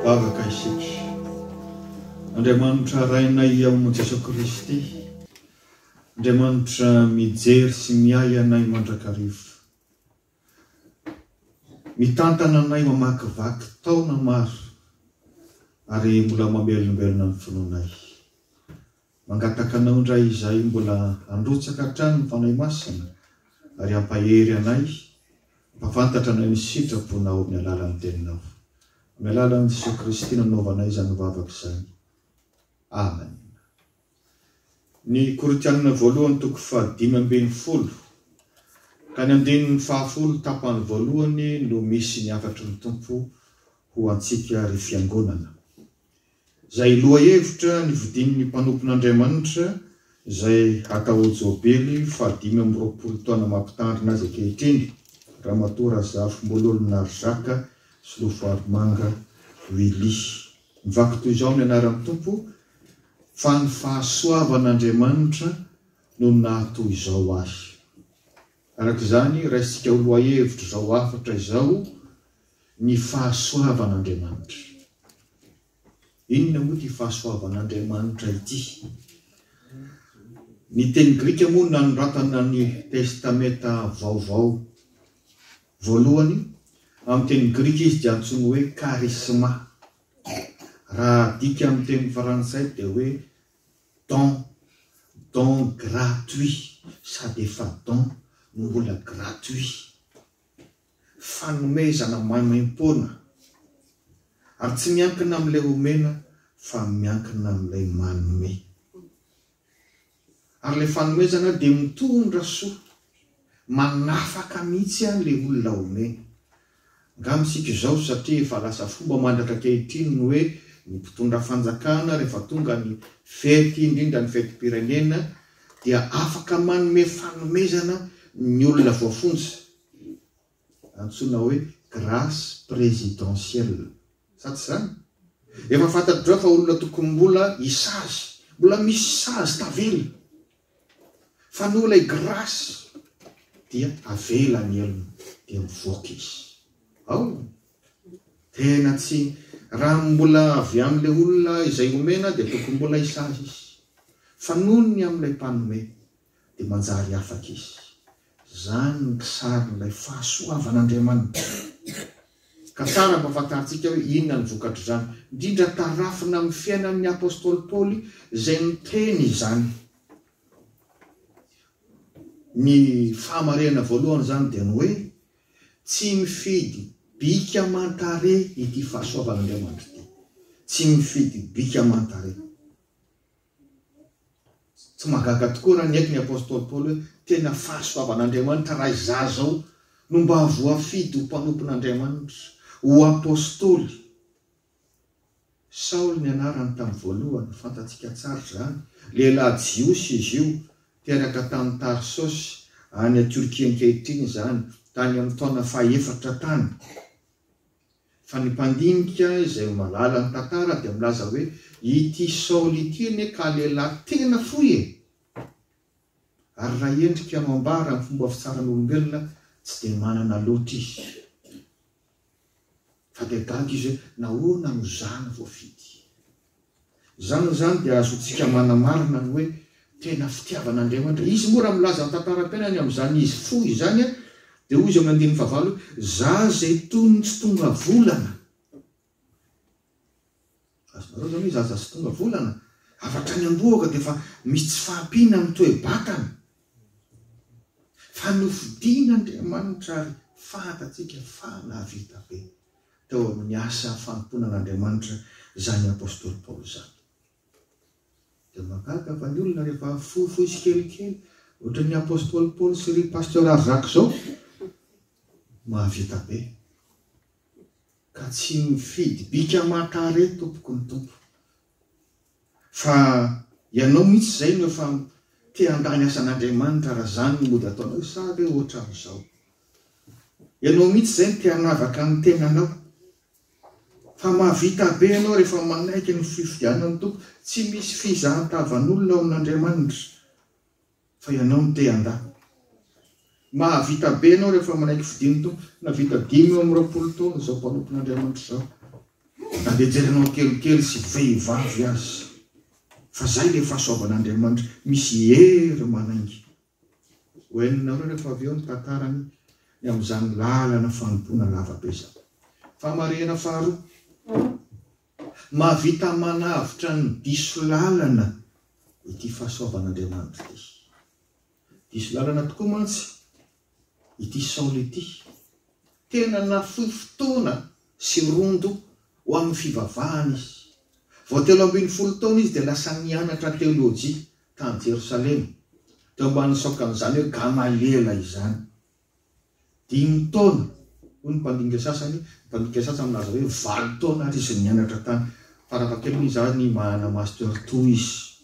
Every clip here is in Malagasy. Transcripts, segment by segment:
Vavaka isika. Andriamanitra Rainay ao amin'i Jesoa Kristy, Andriamanitra mijery sy miahy anay mandrakariva. Mitantana anay mamakivaky taona maro ary mbola mamelombelona ny finoanay. Mangataka anao indray izahay mbola handrotsaka hatrany ny Fanahy Masina ary hampahery anay mba fantatra anay ny sitraponao amin'ny alalan'ny Teninao. Amin'ny alalan'i Jesoa Kristy nanaovanay izany vavaka izany. Amen. Ny Korintianina voalohany toko fahadimy ambin'ny folo ka ny andininy fahafolo tapany voalohany no misy ny hafatry ny Tompo ho antsika ry fiangonana. Izay lohahevitra nividian'ny mpanompon'Andriamanitra izay hatao Jobily fahadimy amby roapolo taona mampitandrina azy ankehitriny, Ramatoa Razafimbololo Narizaka Solofarimanga Willy. Mivaky toy izao ny anaran'ny Tompo, Fa ny fahasoavan'Andriamanitra no naha toy izao ahy. Araka izany, raisintsika ho lohahevitra izao hafatra izao ny fahasoavan'Andriamanitra. Inona moa ity fahasoavan'Andriamanitra ity? Ny teny grika moa nanoratana ny Testamenta Vaovao voalohany, amin'ny teny grika izy dia antsoina hoe charisma. Raha adika amin'ny teny frantsay dia hoe don, don gratuit, sady efa don no mbola gratuit. fanomezana maimaim-poana ary tsy miankina amin'ilay omena fa miankina amin'ilay manome. Ary ilay fanomezana dia mitondra soa, manafaka mihitsy ilay olona omena. Angamba isika izao satria efa lasa fomba mandratra ankehitriny ny hoe ny mpitondra fanjakana rehefa tonga ny fety indrindra ny fetim-pirenena dia afaka manome fanomezana ny olona voafonja antsoina hoe grace presidentielle sa tsy izany? efa fantatr'ireo fa olona tokony mbola hisazy mbola misy sazy tavela fa noho ilay grace dia avela ny helony dia mivoaka izy ao tena tsy raha mbola avy amin'ilay olona izay omena dia tokony mbola hisazy izy fa noho ny amin'ilay mpanome dia manjary afaka izy. Izany no kisarin'ilay fahasoavan'Andriamanitra. Ka tsara hampahafantarintsika hoe inona ny vokatr'izany, indrindra tarafina amin'ny fiainan'ny apostoly Paoly izay niteny izany. Ny fahamarinana voalohany izany dia ny hoe tsy mifidy bika aman-tarehy ity fahasoavan'Andriamanitra ity. Tsy mifidy bika aman-tarehy. Tsy mahagaga tokoa raha niaiky ny apostoly Paoly hoe tena fahasoavan'Andriamanitra raha izaho izao no mba voafidy ho mpanompon'Andriamanitra, ho apostoly. Saoly ny anarany tamin'ny voalohany, fantatsika tsara izany. Lehilahy jiosy izy io, teraka tany Tarsosy, any Torkia ankehitriny izany, tany amin'ny taona fahefatra tany. Fa ny mpandinika izay ho mahalala ny tantara dia milaza hoe, Ity Saoly ity anie ka lehilahy tena fohy e! Ary raha endrika no ambara amin'ny fomba fitsaran'olombelona, tsy dia manana loatra izy. Fa dia gaga izy hoe, Nahoana no izaho no voafidy? Izany amin'izany dia azontsika manamarina ny hoe tena fitiavan'Andriamanitra Izy. Moa raha milaza ny tantaram-piainany amin'izany izy fo izany, dia hoy Izy amin'ny andininy fahavalo hoe, Za izay toy ny tsy tonga volana. Azonareo izany hoe za za tsy tonga volana? Avy hatrany am-bohoka dia efa misy tsy fahampiana amin'ny toe-batana. Fa nofidin'Andriamanitra ary fahantantsika fa nahavita be. teo amin'ny asa fanompoana an'Andriamanitra izany apostoly Paoly izany. Dia mahagaga fa ny olona rehefa fohifohy tsikelikely ohatran'ny apostoly Paoly sy ry pasteur Arzac izao, mahavita be. Ka tsy mifidy bika aman-tarehy tompoko ny Tompo. Fa ianao mihitsy izay no efa te handà ny asan'Andriamanitra raha izany no mody ataonao sa ve ohatra amin'izao. Ianao mihitsy izay no te hanavaka ny tenanao. Fa mahavita be ianao rehefa manaiky ny fifidianan'ny Tompo. Tsy misy fizahan-tavan'olona ao amin'Andriamanitra. Fa ianao no te handà. Mahavita be ianao rehefa manaiky fidin'ny Tompo. Nahavita dimy amby roapolo taona izao mpanompon'Andriamanitra izao. Na dia jerenao kelikely sy vehivavy aza. Fa izay ilay fahasoavan'Andriamanitra, misy hery manainga. Hohenonareo rehefa avy eo ny tantarany ny amin'izany lalana fanompoana lavabe izany. Famarihana faharoa. Mahavita manavotra ny diso lalana ity fahasoavan'Andriamanitra ity. Diso lalana tokoa mantsy ity Saoly ity. Tena nafoy fotoana sy rondo ho amin'ny fivavahana izy. Vao telo ambin'ny folo taona izy dia lasa nianatra teolojia tany Jerosalema, teo ambanin'ny saokan'izany hoe Gamaliela izany. Dimy taona, hoy ny mpandinika sasany, ny mpandinika sasany milaza hoe valo taona ary izy nianatra tany farafahakeliny hoe izaho ny manana Master two izy.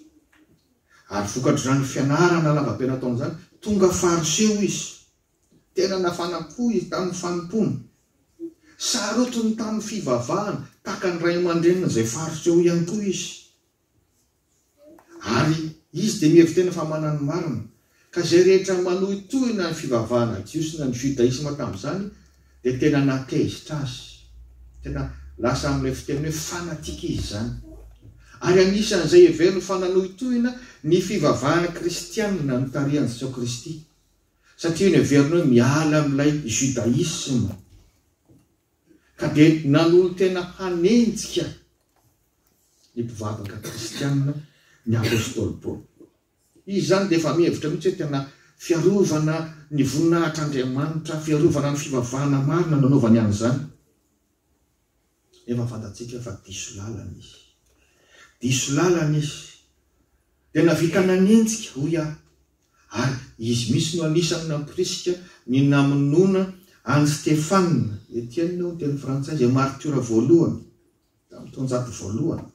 Ary vokatr'izany fianarana lavabe nataony izany, tonga Fariseo izy. Tena nafana po izy tamin'ny fanompoana. Sarotiny tamin'ny fivavahana, tahaka ny ray aman-dreniny izay Fariseo ihany koa izy. Ary izy dia mihevi-tena fa manana ny marina. Ka izay rehetra manohitohina ny fivavahana jiosy na ny jodaisma tamin'izany dia tena nahatezitra azy. Tena lasa amin'ilay fiteny hoe fanatika izy izany. Ary anisan'izay heveriny fa nanohitohina ny fivavahana kristiana ny tarihan'i Jesoa Kristy. Satria io no heveriny hoe miala amin'ilay judaisma. Ka dia nanolo-tena hanenjika. ny mpivavaka kristianina ny apostoly Paoly. Izy izany dia efa mihevitra mihitsy hoe tena fiarovana ny voninahitr'Andriamanitra, fiarovana ny fivavahana marina no anaovany an'izany. Efa fantatsika fa diso lalana izy. Diso lalana izy. Dia navita nanenjika, hoy aho. Ary izy mihitsy no anisan'ny nampirisika ny namonoana an'i Stefana, Etienne hoy ny teny frantsay, izay maritiora voalohany. Tamin'ny taonjato voalohany.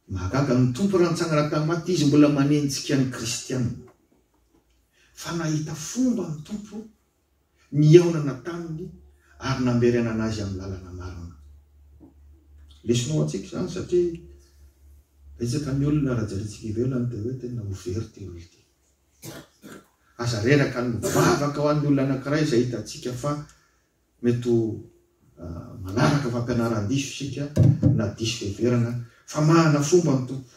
Mahagaga ny Tompo raha nitsangana tamin'ny maty Izy mbola manenjika ny kristiana. Fa nahita fomba ny Tompo nihaonana taminy ary namberenana azy amin'ny lalana marina. Lesona ho antsika izany satria betsaka ny olona raha jerintsika ivelany dia hoe tena ho very ity olona ity. Aza reraka ny mivavaka ho an'ny olona anankiray izay hitantsika fa Mety ho manaraka fampianaran-diso isika na diso fiheverana fa manana fomba ny Tompo.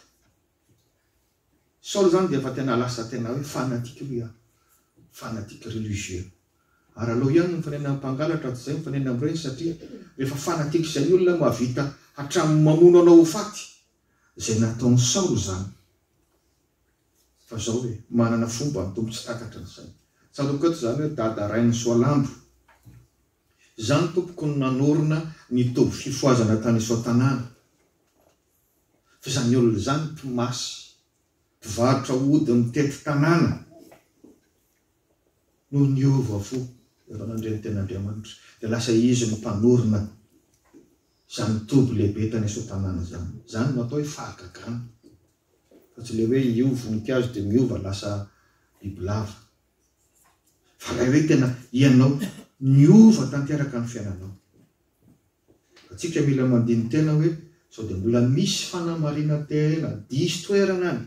Saoly izany dia efa tena lasa tena hoe fanatique hoy aho, fanatique religieux. Ary aleo ihany ny mifanena amin'ny mpangalatra toy izay mifanena amin'ireny satria rehefa fanatique izay ny olona mahavita hatramin'ny mamono anao ho faty izay nataon'i Saoly izany. Fa zao hoe, manana fomba ny Tompo tsy takatry ny saina. Tsaroviko eto izany hoe Dada Rainy Soalambo. Izany tompoko no nanorina ny toby fifohazana tany Isoatanàna. Fa izany olona izany mpimasy, mpivarotra ody mitety tanàna no niova fo rehefa nandre ny tenin'Andriamanitra. Dia lasa izy no mpanorina izany toby lehibe tany Isoatanàna izany. Izany no atao hoe fahagagana. fa tsy le hoe io voninkazo dia miova lasa bibilava fa lay hoe tena ianao niova tanteraka ny fiainanao atsika mila mandiny tena hoe sao dia mbola misy fanamarina tena diso toerana any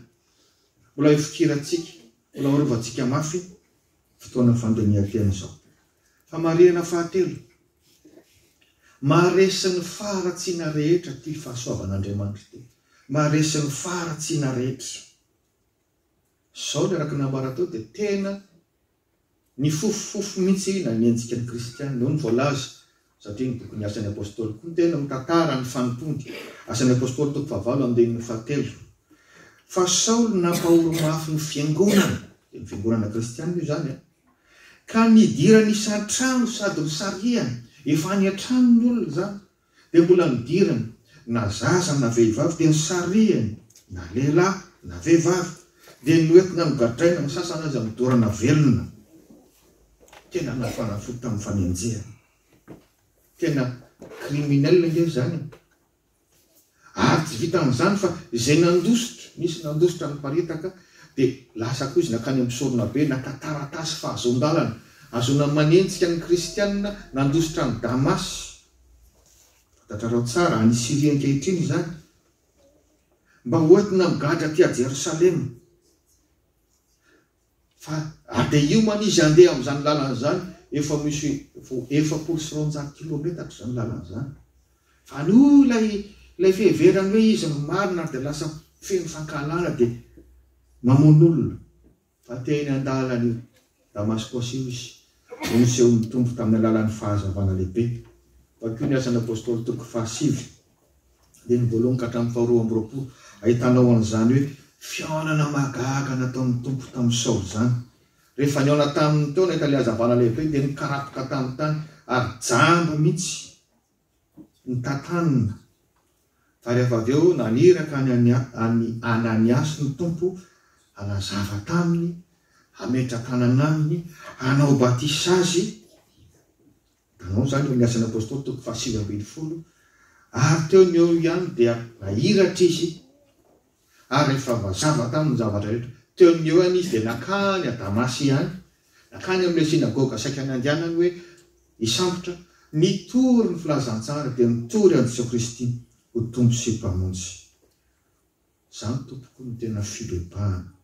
mbola hifikirantsika mbola horovantsika mafy fotoana fandinihan-tena izao. Famarihana fahatelo, Maharesy ny faharatsiana rehetra ity fahasoavan'Andriamanitra ity. Maharesy ny faharatsiana rehetra. Izao ilay araka ny nambarako teo dia tena ny fofofofo mihitsy na ny endriky ny kristiana. Hoy ny voalaza, satria ny bokin'ny Asan'ny Apôstôly koa tena mitantara ny fanompoany, Asan'ny Apôstôly toko fahavalo andininy fahatelo, fa Saoly nampahory mafy ny fiangonana, dia ny fiangonana kristiana io izany an, ka nidirany isan-trano sady nisarihany, efa any an-trano ny olona izany, dia mbola nidirany, na zaza na vehivavy dia nisarihany, na lehilahy na vehivavy, dia noentina nogadraina, ny sasany aza nodorana velona. Tena nafana fo tamin'ny fanenjehana. Tena criminel ange izany e! Ary tsy vitan'izany fa izay nandositra, nisy nandositra niparitaka dia lasa koa izy nankany amin'ny soronabe naka taratasy fahazoan-dalana ahazoana manenjika ny kristianina nandositra an'i Damasy. Fantatrareo tsara, any Syria ankehitriny izany. Mba hoentina migadra aty Jerosalema. Fa raha dia hiomana izy handeha amin'izany lalana izany, efa misy vao efapolo sy roanjato kilometatra izany lalana izany. Fa ny hoy ilay ilay fiheverany hoe izy no marina ary dia lasa feno fankahalana dia mamono olona. Fa te eny an-dalan'io Damaskosy io izy, no nisehoan'ny Tompo tamin'ny alalan'ny fahazavana lehibe. Vakio ny Asan'ny Apostoly toko fahasivy. dia ny voalohany ka hatramin'ny faharoa amby roapolo, ahitana ao an'izany hoe fihaonana mahagaga nataon'ny Tompo tamin'i Saoly izany. Rehefa nihaona taminy teo nahita ilay hazavana lehibe dia nikarapoka tamin'ny tany ary jamba mihitsy ny tantanina. Fa rehefa avy eo naniraka an'i Ania- an'i Ananiasy ny Tompo hanazava taminy, hametra-tanana aminy, hanao batisa azy, Nanao izany eo amin'ny Asan'ny Apostoly, toko fahasivy ambin'ny folo, ary teo no eo ihany dia nahiratra izy, ary rehefa voazava taminy ny zavatra rehetra, teo no eo ihany izy dia nankany à Damasy ihany, nankany amin'ilay synagoga saika nandehanany hoe hisambotra, nitory ny filazantsara dia nitory an'i Jesoa Kristy ho Tompo sy Mpamonjy. Izany tompoko no tena fibebahana.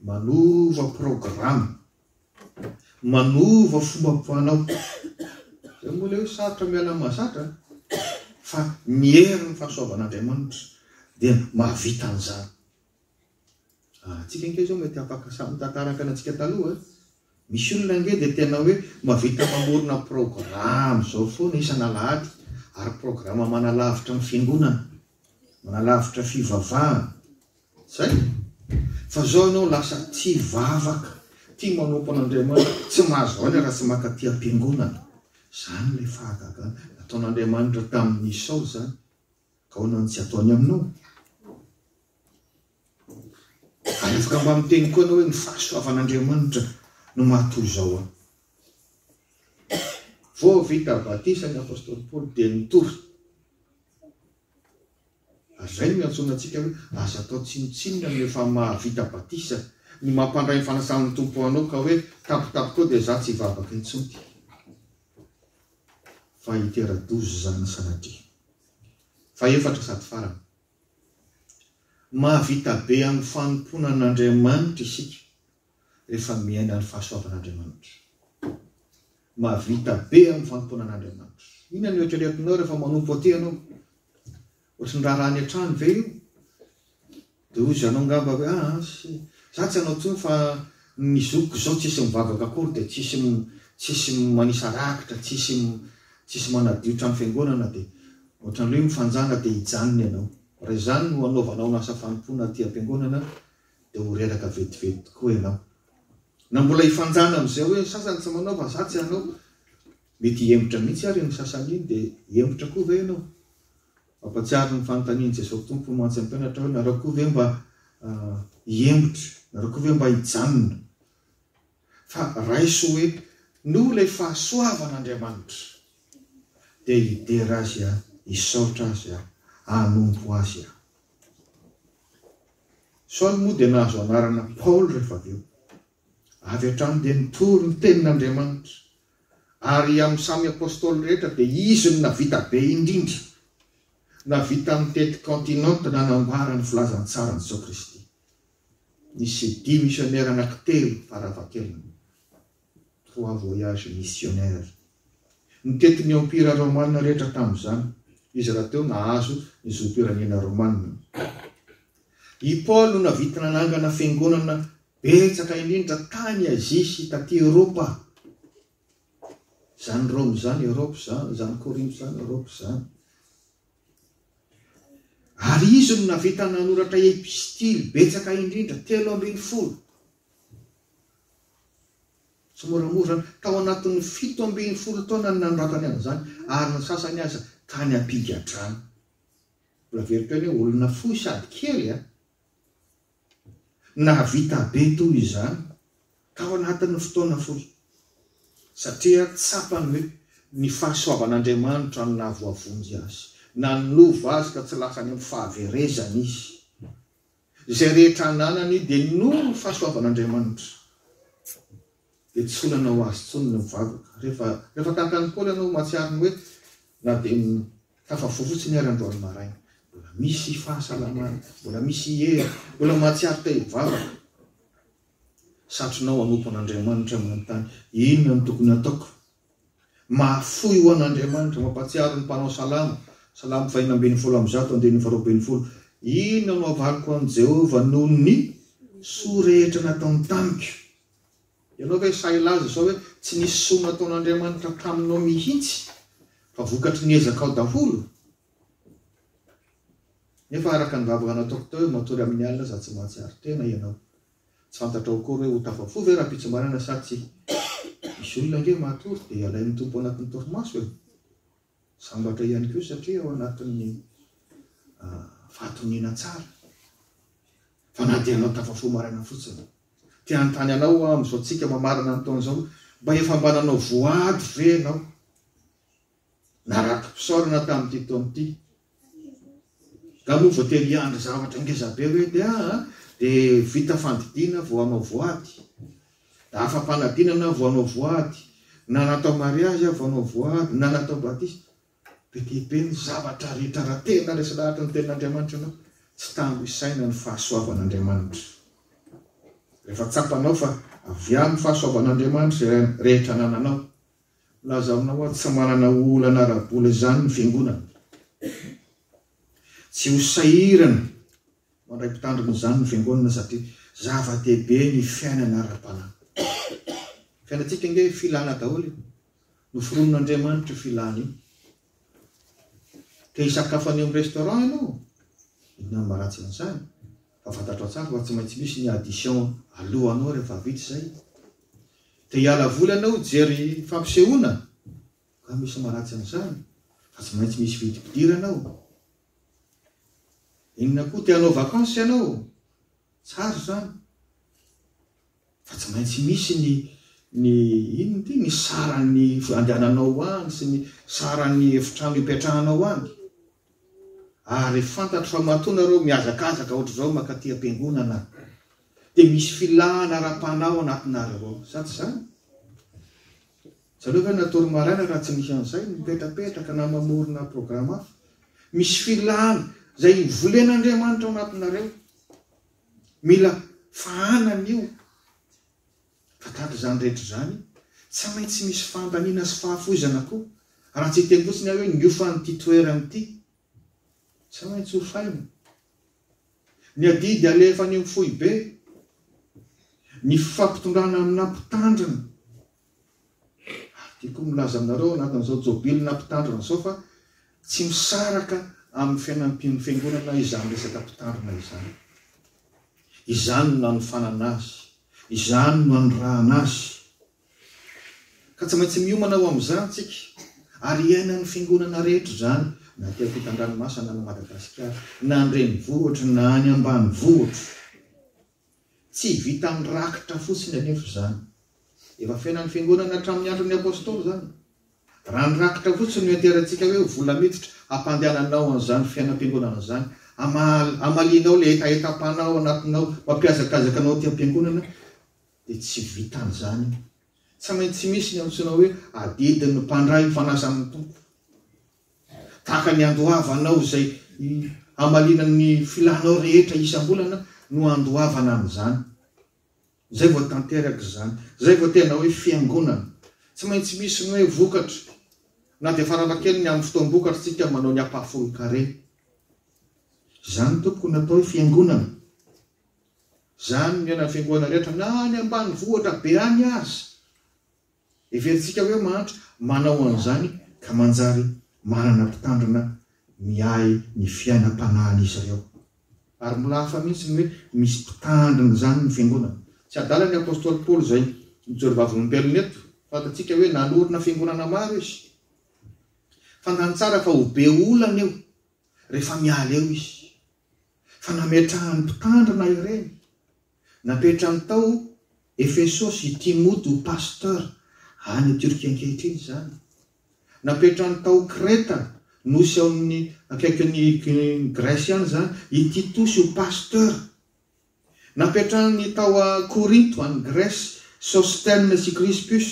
Manova programa. Manova fomba fanao. Izay moa ilay hoe sarotra miala amin'ny mahazatra an! Fa ny herin'ny fahasoavan'Andriamanitra dia mahavita an'izany. Ah, antsika ange izao mety afaka samy mitantaraka ny antsika taloha eh. Misy olona ange dia tena hoe mahavita mamorona programa izao foana isan'alahady, ary programa manalavitra ny fiangonana. Manalavitra fivavahana zay fa zao enao lasa tsy hivavaka tia manompo an'Andriamanitra tsy mahazo voany raha tsy maka aty ampiangonana zany ilay fahagagana nataon'Andriamanitra tamin'i Esao zany ka ahoana no tsy ataony aminao? Ary afaka mba miteny koa ianao hoe ny fahasoavan'Andriamanitra no mahatoy izao aho. Vao vita batisa ny apostoly Paoly dia nitory. Ary izay no iantsoana antsika hoe aza atao tsinontsinona ny efa mahavita batisa, ny mampandray ny fanasan'ny Tompo anao ka hoe tapitapiko dia za tsy hivavaka intsony. Fa hitera-doza izany sanatria. Fahefatra sady farany. Mahavita be amin'ny fanompoana an'Andriamanitra isika rehefa miaina ny fahasoavan'Andriamanitra. Mahavita be amin'ny fanompoana an'Andriamanitra. Inona no eritreretinao rehefa manompo aty ianao? Ohatry ny raharaha any an-trano ve io? Dia hoy zanao angamba hoe, ah, za tsy hanao intsony fa ny zokiko izao tsisy mivavaka akory dia tsisy tsisy manisa rakitra, tsisy tsisy manadio trano fiangonana dia Ohatran'ny hoe mifanjana dia hijanona ianao. Raha izany no hanaovanao ny asa fanompoana aty am-piangonana dia ho reraka vetivety tokoa ianao. Na mbola hifanjana amin'izay hoe ny sasany tsy manao fa za tsy hanao. Mety hihemotra mihitsy ary iny sasany iny dia hihemotra koa ve ianao? Mampahatsiaro ny fanontanian'i Jesosy Tompo mantsy ny mpianatra hoe narao koa ve mba hihemotra? Narao koa ve mba hijanona? fa raiso hoe noho ilay fahasoavan' Andriamanitra dia hidera azy aho, hisaotra azy aho, hanompo azy aho. Saoly moa dia nahazo anarana Paoly rehefa avy eo. Avy hatrany dia nitory ny tenin' Andriamanitra, ary amin'ny samy apostoly rehetra dia izy no navita be indrindra navita nitety kaontinanta nanambara ny filazantsara an'i Jesoa Kristy. ny CD misionera anankitelo farafahakeliny, Trois voyages missionnaires. Nitety ny Empira Romana rehetra tamin'izany izy rahateo nahazo ny zom-pirenena Romana. I Paoly no navita nanangana fiangonana betsaka indrindra tany Azia sy taty Eropa. Izany Roma izany Eropa izany, izany Korinto izany Eropa izany. Ary izy no nahavita nanoratra epistily betsaka indrindra, telo ambin'ny folo. Tsimoramora, tao anatin'ny fito ambin'ny folo taona no nanoratany an'izany, ary ny sasany aza tany am-pigadrana. Mbola very teo anie, olona fohy sady kely, Nahavita be toy izany tao anatin'ny fotoana fohy, satria tsapany hoe ny fahasoavan'Andriamanitra no nahavoavonjy azy. Nanova azy ka tsy lasa any amin'ny fahaverezana izy. Izay rehetra ananany dia noho ny fahasoavan'Andriamanitra. Dia tsy olana ho azy intsony ny mivavaka. Rehefa, rehefa tahaka an'i Paoly ianao, mahatsiaro ny hoe, Na dia ny tafavoa fotsiny ary androany maraina, mbola misy fahasalamana, mbola misy hery, mbola mahatsiaro te hivavaka. Satrinao hanompo an'Andriamanitra manontany, Inona no tokony hataoko? Mahafoy ho an'Andriamanitra, mampahatsiaro ny mpanao salamo, Salamo fahina ambin'ny folo amby zato, andininy faharoa ambin'ny folo, Inona no havaliko an'i Jehovah noho ny soa rehetra nataony tamiko? Ianao ve sahy hilaza izao hoe tsy nisy soa nataon'Andriamanitra taminao mihitsy fa vokatry ny ezakao daholo? Nefa araka ny vavaka nataoko teo hoe matory amin'ny alina sady tsy mahatsiaro tena ianao. Tsy fantatrao akory hoe ho tafafo ve rahampitsimbanana sa tsia. Misy olona ange matory dia alain'ny Tompo anatin'ny torimaso e! Sambatra ihany koa satria ao anatin'ny fahatoniana tsara fa na dia anao tafafoha maraina fotsiny te hanontany anao aho amin'izao tsika mamarana ny taona izao mba efa mba nanao voady ve ianao na ratom-pisaorana tamin'ity taona ity Raha moa voatery hiandry zavatra ngeza be hoe dia ah, dia vita fandidiana vao hanao voady, da afa-panadinana vao hanao voady, na natao mariazy aho vao hanao voady, na natao batisa. Be dia be ny zavatra rehetra raha tena resy lahatra ny tenin'Andriamanitra ianao. Tsy tambo isaina ny fahasoavan'Andriamanitra. Rehefa tsapanao fa avy amin'ny fahasoavan'Andriamanitra izay rehetra anananao, Milaza aminao aho tsy manana olana ara-bola izany ny fiangonana. Tsy ho sahirana mandray mpitandrina izany ny fiangonana satria zava-dehibe ny fiainana ara-panahy. Ny fiainantsika ange filana daholo io. Noforonin'Andriamanitra io filana io. Te hisakafo any amin'ny restaurant ianao? Inona no maharatsy an'izany? Fa fantatrao tsara fa tsy maintsy misy ny addition alohanao rehefa vita izay. Te hiala voly ianao hijery fampisehoana? Nga misy maharatsy an'izany fa tsy maintsy misy vidim-pidirana ao. Inona koa te hanao vacances ianao? Tsara izany. Fa tsy maintsy misy ny ny inona ity ny saran'ny andehananao any sy ny saran'ny efitrano ipetrahanao any. Ary fantatro fa matoa nareo mihazakazaka ohatr'izao makaty am-piangonana dia misy filana ara-panahy ao anatinareo ao. Sa tsy izany? Zareo ve natory maraina raha tsy misy an'izay, mipetrapetraka na mamorona programa hafa? Misy filana izay volen'Andriamanitra ao anatinareo. Mila fahanana io. Fa tahaka izany rehetra izany, tsy maintsy misy fandaniana sy fahafoizana koa, raha tsy hiteny fotsiny aho hoe niofan'ity toerana ity. Tsy maintsy hofaina. Ny adidy alefa any amin'ny foibe, ny fifampitondrana aminà mpitandrina, Ary tiako milaza aminareo ao anatin'izao Jobilina Mpitandrina izao fa tsy misaraka amin'ny fianampian'ny Fiangonana izany resaka mpitandrina izany. Izany no nanofanana azy. Izany no nanirahana azy. Ka tsy maintsy miomana ho amin'izany isika. Ary iainan'ny Fiangonana rehetra izany, na aty ampitan-dranomasina na any Madagasikara, na an-drenivohitra na any ambanivohitra. Tsy vitan'ny rakitra fotsiny anefa izany. Efa fiainan'ny Fiangonana hatramin'ny andron'ny Apostoly izany. Raha ny rakitra fotsiny no enteherintsika hoe vola miditra, hampandehananao an'izany fiainam-piangonana izany, hamalianao ilay hetahetam-panahy ao anatinao, mampihazakazaka anao aty am-piangonana, dia tsy vitan'izany. Tsy maintsy misy ny antsoina hoe adidin'ny mpandray ny fanasan'ny Tompo. Tahaka ny andoavanao izay hamaliana ny filanao rehetra isam-bolana no andoavana an'izany. Izay vao tanteraka izany. Izay vao tena hoe fiangonana. Tsy maintsy misy ny hoe vokatra. Na dia faranakely ny amin'ny fotoam-bokatra isika manao ny ampahafolon-karena. Izany tompoko no atao hoe fiangonana. Izany ny anan'ny fiangonana rehetra na any ambanivohitra be any aza. Heverintsika hoe mahantra manao an'izany ka manjary manana mpitandrina miahy ny fiainam-panahin'izy ireo. Ary mbola hafa mihitsy ny hoe misy mpitandrina izany ny fiangonana. Tsy adalan'ny apostoly Paoly izay mijoro vavolombelona eto. Fantatsika hoe nanorina fiangonana maro izy. Fantany tsara fa ho be olana io rehefa miala eo izy. Fa nametrahany mpitandrina ireny. Napetrany tao Efesosy i Timoty ho pasteur any Turquie ankehitriny izany. Napetrany tao Kreta, nosy ao amin'ny akaikin'i Grèce any izany, i Titosy ho pasteur. Napetrany tao Korinto, any Grèce, Sosthène sy Crispus.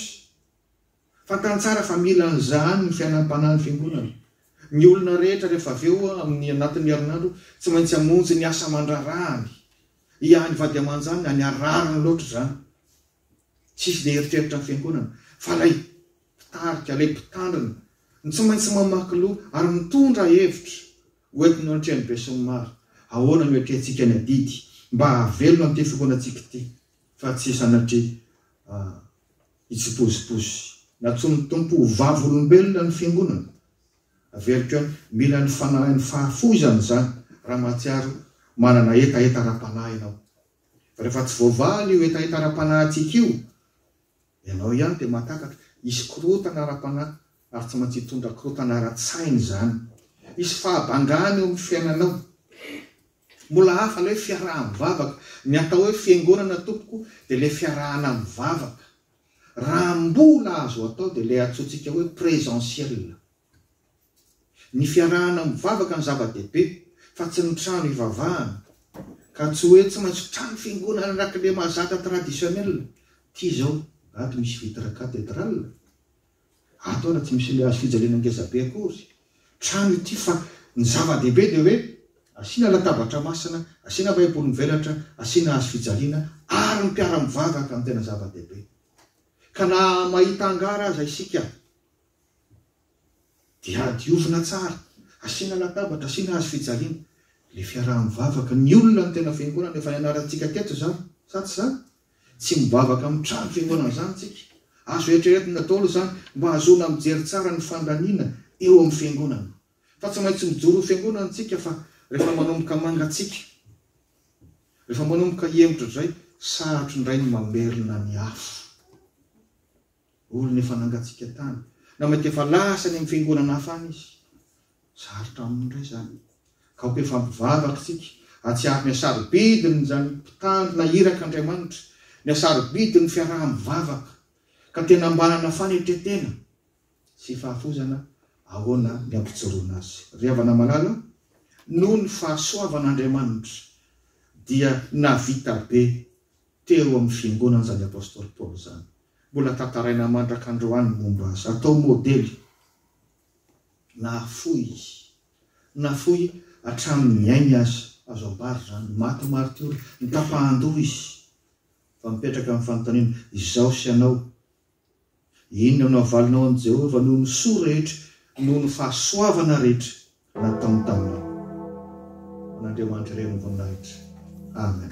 Fantany tsara fa mila an'izany ny fiainam-panahin'ny Fiangonana. Ny olona rehetra rehefa avy eo amin'ny anatin'ny herinandro tsy maintsy hamonjy ny asa aman-draharahany. Hiahy ny vady aman-janany any ary rariny loatra izany. Tsy hisy dia eritreritra ny Fiangonana fa ilay Mpitarika, ilay Mpitandrina no tsy maintsy mamaky loha ary mitondra hevitra. Hoentiny eo antrehany besinimaro. Ahoana no hiatrehantsika ny adidy mba hahavelona an'ity fokonantsika ity fa tsy sanatria Hitsipozipozy. Nantsoin'ny Tompo ho vavolombelona ny Fiangonana. Averiko hoe mila ny Fanahin'ny fahafoizana izany raha mahatsiaro manana hetaheta ara-panahy ianao. Fa rehefa tsy voavaly io hetaheta ara-panahintsika io, ianao ihany dia mahatakatra. Hisy korontana ara-panahy ary tsy maintsy hitondra korontana ara-tsaina izany. Hisy fahabangana eo amin'ny fiainanao. Mbola hafa ilay fiaraha-mivavaka. Ny atao hoe fiangonana tompoko dia ilay fiarahana mivavaka. Raha mbola azo atao dia ilay antsointsika hoe presentiel. Ny fiarahana mivavaka no zava-dehibe fa tsy ny trano hivavahana. Ka tsy hoe tsy maintsy trano fiangonana an'rakle mahazatra traditionnel. Ty izao ato misy vitre cathedrale. Ataona tsy misy hazo fijaliana ngeza be akory trano ity fa ny zava-dehibe dia hoe asiana latabatra masina, asiana baiboly mivelatra, asiana hazo fijaliana ary ny mpiara-mivavaka no tena zava-dehibe. Ka na mahita hangar aza isika dia diovina tsara, asiana latabatra, asiana hazo fijaliana, ilay fiaraha-mivavaka, ny olona no tena fiangonana, efa nianarantsika teto izany, sa tsy izany? Tsy mivavaka amin'ny trano fihaonana amin'izany isika. Azo eritreretina ny Ntaolo izany mba hahazoana mijery tsara ny fandaniana eo amin'ny Fiangonana. Fa tsy maintsy mijoro ho Fiangonana isika fa rehefa manomboka mangatsiaka, rehefa manomboka hihemotra izay, sarotro indray ny mamerina ny afo. Olona efa nangatsiaka tany, na mety efa lasa any amin'ny fiangonana hafa any izy. Sarotra aminy indray izany. Kaoka efa mivavaka isika, hahatsiaro ny hasarobidin'izany mpitandrina iraka Andriamanitra, ny hasarobidin'ny fiaraha-mivavaka, ka tena mba hanana fanetren-tena sy fahafoizana ahoana ny hampijoroana azy. Ry havana malala, noho ny fahasoavan'Andriamanitra dia nahavita be teo amin'ny fiangonana izany Apostoly Paoly izany. Mbola tantaraina mandraka androany ny momba azy. Atao modely. Nahafoy izy. Nafoy hatramin'ny ainy aza. Azo ambara izany. Maty martiora. Nitapahan-doha izy. Fa mipetraka ny fanontaniana, izaho sy ianao, inona no havalinao amin'i Jehovah noho ny soa rehetra, noho ny fahasoavana rehetra? nataony taminy. Ho an'Andriamanitra irery ny voninahitra. Amen.